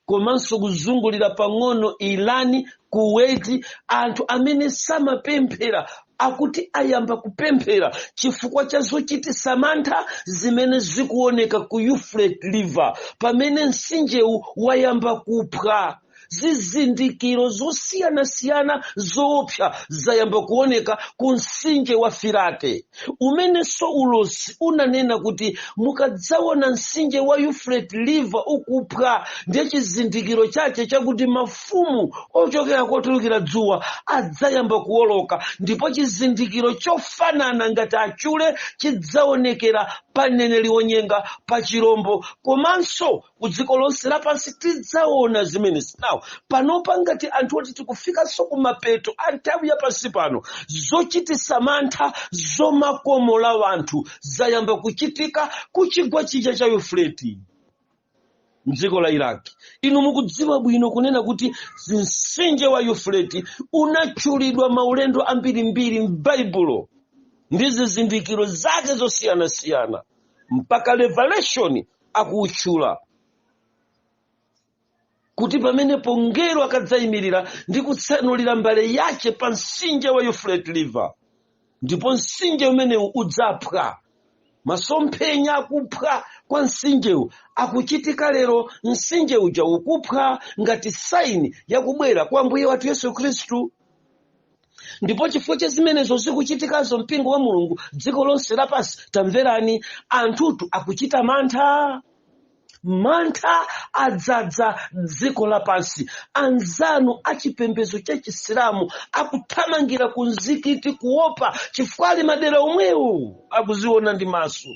Speaker 1: komanso kuzungulira pang'ono Iran Kuwait anthu amene samapemphera akuti ayamba kupemphera chifukwa cha zochititsa mantha zimene zikuoneka ku Euphrates River pamene mtsinjewu wayamba kuphwa zizindikiro zosiyanasiyana zoopsa zayamba kuoneka ku mtsinje wa Firate umenenso ulosi unanena kuti mukadzaona mtsinje wa Euphrates River ukuphwa ndiye chizindikiro chache chakuti mafumu ochokera kotulukira dzuwa adzayamba kuwoloka ndipo chizindikiro chofanana ngati achule chidzaonekera pa mneneri wonyenga pa chirombo komanso ku dziko lonse lapansi tidzaona zimenezi nawo panopa ngati anthu oti tikufikanso kumapeto a nthawi ya pansi pano zochititsa mantha zomakomola wanthu zayamba kuchitika ku chigwa chija cha yufureti mdziko la iraki inu mukudziwa bwino kunena kuti mtsinje wa yufureti unatchulidwa maulendo ambirimbiri m'baibulo ndi zizindikiro zake zosiyanasiyana mpaka revelation akuutchula kuti pamenepo mngelo akadzayimirira ndi kutsanulira mbale yace pa mtsinje wa Euphrates River ndipo mtsinje umenewu udzaphwa masomphenya akuphwa kwa mtsinjewu akuchitika lero mtsinje uja ukuphwa ngati saini yakubwera kwa ambuye wathu yesu khristu ndipo chifukwa cha zimenezo zikuchitikazo mpingo wa mulungu dziko lonse lapansi tamverani anthutu akuchita mantha mantha adzadza dziko lapansi anzanu achipembedzo cha chisilamu akuthamangira ku mzikiti kuopa chifukwa ali madera omwewo akuziona ndi maso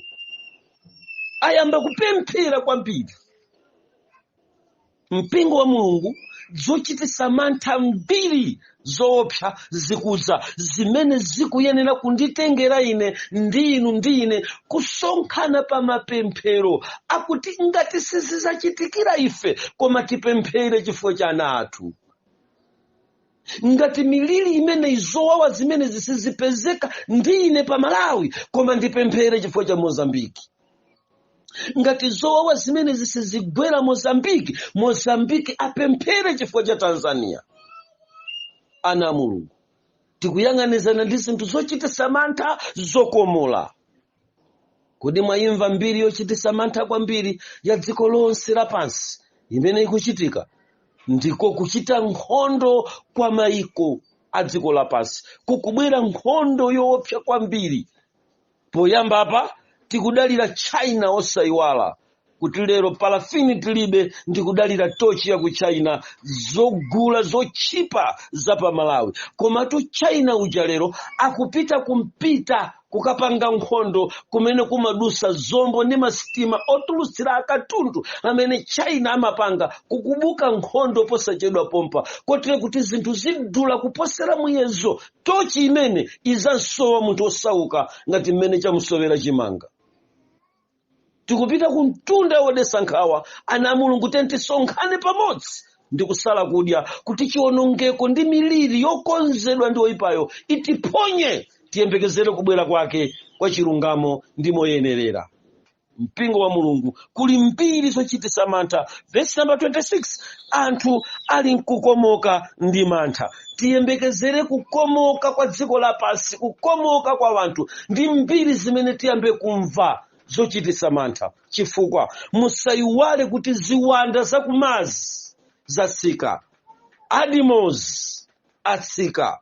Speaker 1: ayamba kupemphera kwambiri mpingo wa mulungu zochititsa mantha mbiri zoopsa zikudza zimene zikuyenera kunditengera ine ndi inu ndi ine kusonkhana pa mapemphero akuti ngati sizizachitikira ife koma tipemphere chifukwa cha ana athu ngati miliri imeneyi zowawa zimene zisizipezeka ndi ine pa malawi koma ndipemphere chifukwa cha mozambiki ngati zowawa zimenezi sizigwera mozambiki mozambiki apemphere chifukwa cha tanzania ana a mulungu tikuyang'anizana ndi zinthu zochititsa mantha zokomola Kodi mwayimva mbiri yochititsa mantha kwambiri ya dziko lonse lapansi imene ikuchitika? Ndiko kuchita nkhondo kwa mayiko a dziko lapansi. Kukubwera nkhondo yoopsa kwambiri. Poyamba apa tikudalira China osayiwala kuti lero palafini tilibe ndikudalira tochi ya ku china zogula zotchipa za pa malawi komatu china uja lero akupita kumpita kukapanga nkhondo kumene kumadusa zombo ndi masitima otulutsira akatundu amene china amapanga kukubuka nkhondo posachedwa pompa kotero kuti zinthu zidula kuposera muyezo tochi imene izamsowa munthu osauka ngati mmene chamusowera chimanga tikupita kumtunda wodesa nkhawa ana a mulungu tiyeni tisonkhane pamodzi ndi kusala kudya kuti chiwonongeko ndi miliri yokonzedwa ndi oyipayo itiphonye tiyembekezere kubwera kwake kwa chilungamo ndi moyenerera mpingo wa mulungu kuli mbiri zochitisa mantha vesi namba 26 anthu ali nkukomoka ndi mantha tiyembekezere kukomoka kwa dziko lapansi kukomoka kwa wanthu ndi mbiri zimene tiyambe kumva zochitisa mantha chifukwa musayiwale kuti ziwanda zakumazi zatsika adimos atsika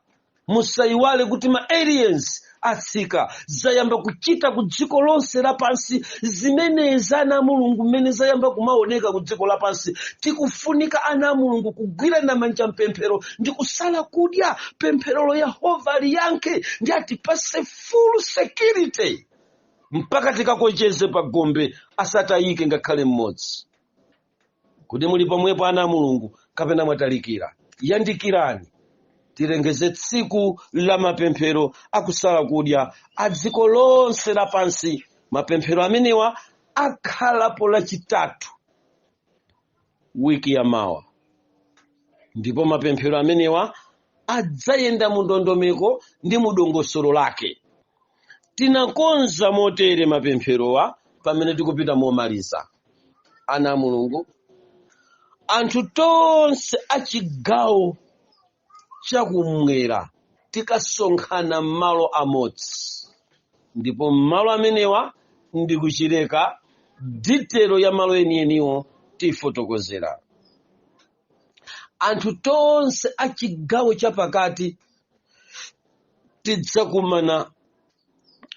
Speaker 1: musayiwale kuti ma aliens atsika zayamba kuchita ku dziko lonse lapansi zimenezi ana a mulungu mmene zayamba kumaoneka ku dziko lapansi tikufunika ana a mulungu kugwirana manja mpemphero ndi kusala kudya pempherolo yehova aliyankhe ndi atipase full security mpaka tikakocheze pa gombe asatayike ngakhale mmodzi kodi muli pomwepo ana a mulungu kapena mwatalikira yandikirani tilengeze tsiku la mapemphero akusala kudya a dziko lonse lapansi mapemphero amenewa akhalapo lachitatu wiki ya mawa ndipo mapemphero amenewa adzayenda mu ndondomeko ndi mu dongosolo lake tinakonza motere mapempherowa pamene tikupita momaliza ana a mulungu anthu tonse a chigawo chakumwera tikasonkhana m'malo amodzi ndipo m'malo amenewa ndi ku Chileka ditelo ya malo enieniwo tifotokozera anthu tonse a chigawo chapakati tidzakumana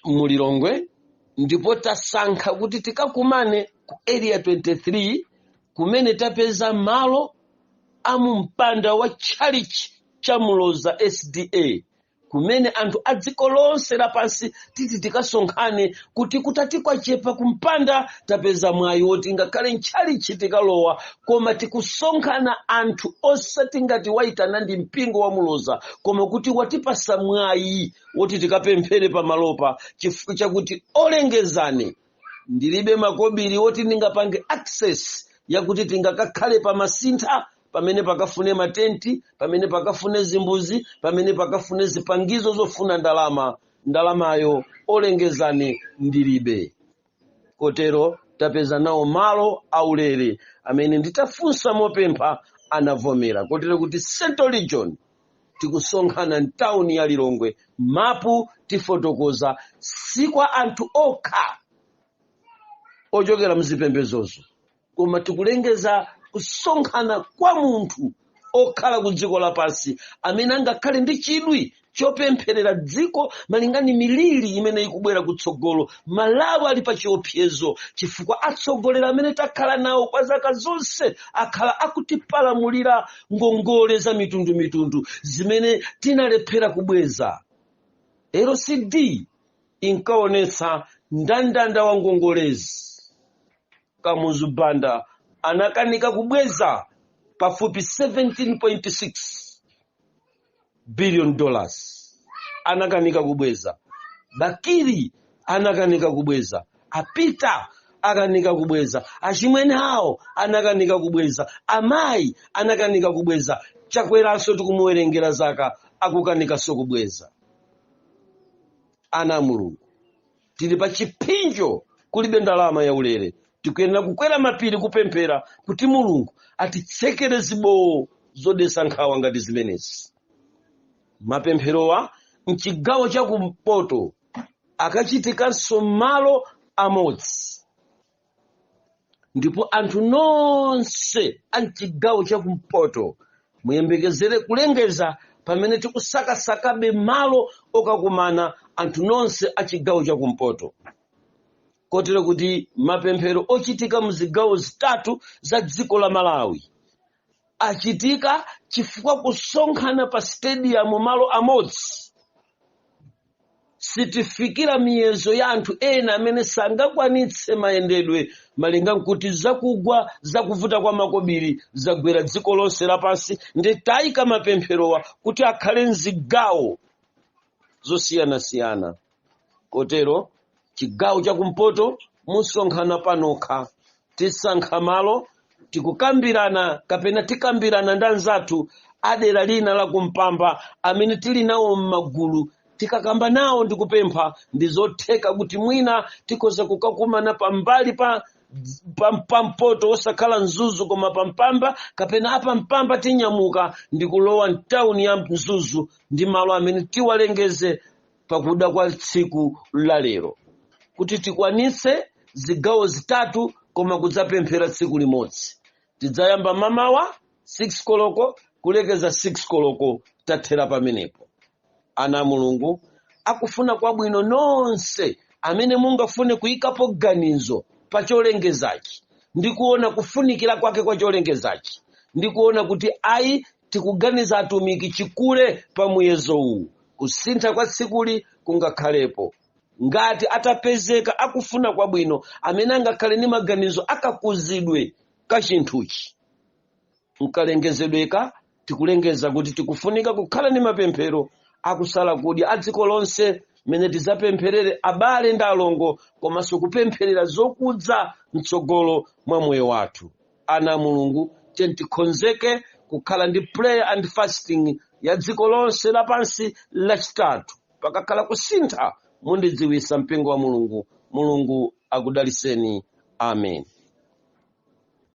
Speaker 1: mu lilongwe ndipo tasankha kuti tikakumane ku area 23 kumene tapeza malo a mu mpanda wa tchalichi cha Muloza SDA kumene anthu a dziko lonse lapansi titi tikasonkhane kuti kutati kwachepa kumpanda tapeza mwayi woti ngakhale ntchalichi tikalowa koma tikusonkhana anthu osati ngati wayitana ndi mpingo wa Muloza koma kuti watipasa mwayi woti tikapemphere pamalopa chifukwa chakuti olengezani ndilibe makobiri woti ndingapange access yakuti tingakakhale pa Masintha pamene pakafune matenti pamene pakafune zimbuzi pamene pakafune zipangizo zofuna ndalama ndalamayo olengezani ndilibe kotero tapeza nawo malo aulere amene nditafunsa mopempha anavomera kotero kuti central region tikusonkhana mtawuni ya lilongwe mapu tifotokoza si kwa anthu okha ochokera mzipembezozo koma tikulengeza kusonkhana kwa munthu okhala ku dziko lapansi amene angakhale ndi chidwi chopempherera dziko malinga ndi miliri imene ikubwera kutsogolo malawi ali pa chiopsezo chifukwa atsogoleri amene takhala nawo kwa zaka zonse akhala akutipalamulira ngongole za mitundumitundu zimene tinalephera kubweza lcd inkaonetsa ndandanda wa ngongolezi Kamuzu Banda anakanika kubweza pafupi 17.6 billion dollars anakanika kubweza Bakili anakanika kubweza a Peter akanika kubweza achimwene awo anakanika kubweza amayi anakanika kubweza Chakwera nso tikumuwerengera zaka akukanikanso kubweza ana a mulungu tili pa chipsinjo kulibe ndalama yaulere tikuyenera kukwera mapiri kupemphera kuti mulungu atitsekere zibowo zodesa nkhawa ngati zimenezi mapempherowa mchigawo cha kumpoto akachitikanso mmalo amodzi ndipo anthu nonse a mchigawo chakumpoto muyembekezere kulengeza pamene tikusakasakabe malo okakumana anthu nonse a chigawo chakumpoto kotero kuti mapemphero ochitika mu zigawo zitatu za dziko la malawi achitika chifukwa kusonkhana pa stadium malo amodzi sitifikira miyezo ya anthu ena amene sangakwanitse mayendedwe malinga nkuti zakugwa zakuvuta kwa makobiri zagwera dziko lonse lapansi nde taika mapempherowa kuti akhale mzigawo zosiyanasiyana kotero chigawo chakumpoto musonkhana panokha tisankha malo tikukambirana kapena tikambirana ndi anzathu a dera lina la kumpamba amene tili nawo m'magulu tikakamba nawo ndikupempha ndizotheka kuti mwina tikhoza kukakumana pambali pa pampoto osakhala mzuzu koma pa mpamba kapena a pa mpamba tinyamuka ndi kulowa mtawuni ya mzuzu ndi malo amene tiwalengeze pakuda kwa tsiku la lero kuti tikwanitse zigawo zitatu koma kudzapemphera tsiku limodzi tidzayamba mamawa 6 koloko kulekeza 6 koloko tathera pamenepo ana a mulungu akufuna kwabwino nonse amene mungafune kuyikapo ganizo pa cholengezachi ndi kuona kufunikira kwake kwa cholengezachi ndi kuona kuti ayi tikuganiza atumiki chikule pa muyezo uwu kusintha kwa tsikuli kungakhalepo ngati atapezeka akufuna kwabwino amene angakhale ndi maganizo akakuzidwe ka chinthuchi mkalengezedweka tikulengeza kuti tikufunika kukhala ndi mapemphero akusala kudya a dziko lonse mmene tizapempherere abale ndi alongo komanso kupempherera zokudza mtsogolo mwa moyo wathu ana a mulungu tiyeni tikonzeke kukhala ndi prayer and fasting ya dziko lonse lapansi lachitatu pakakhala kusintha mundidziwisa mpingo wa mulungu mulungu akudaliseni amen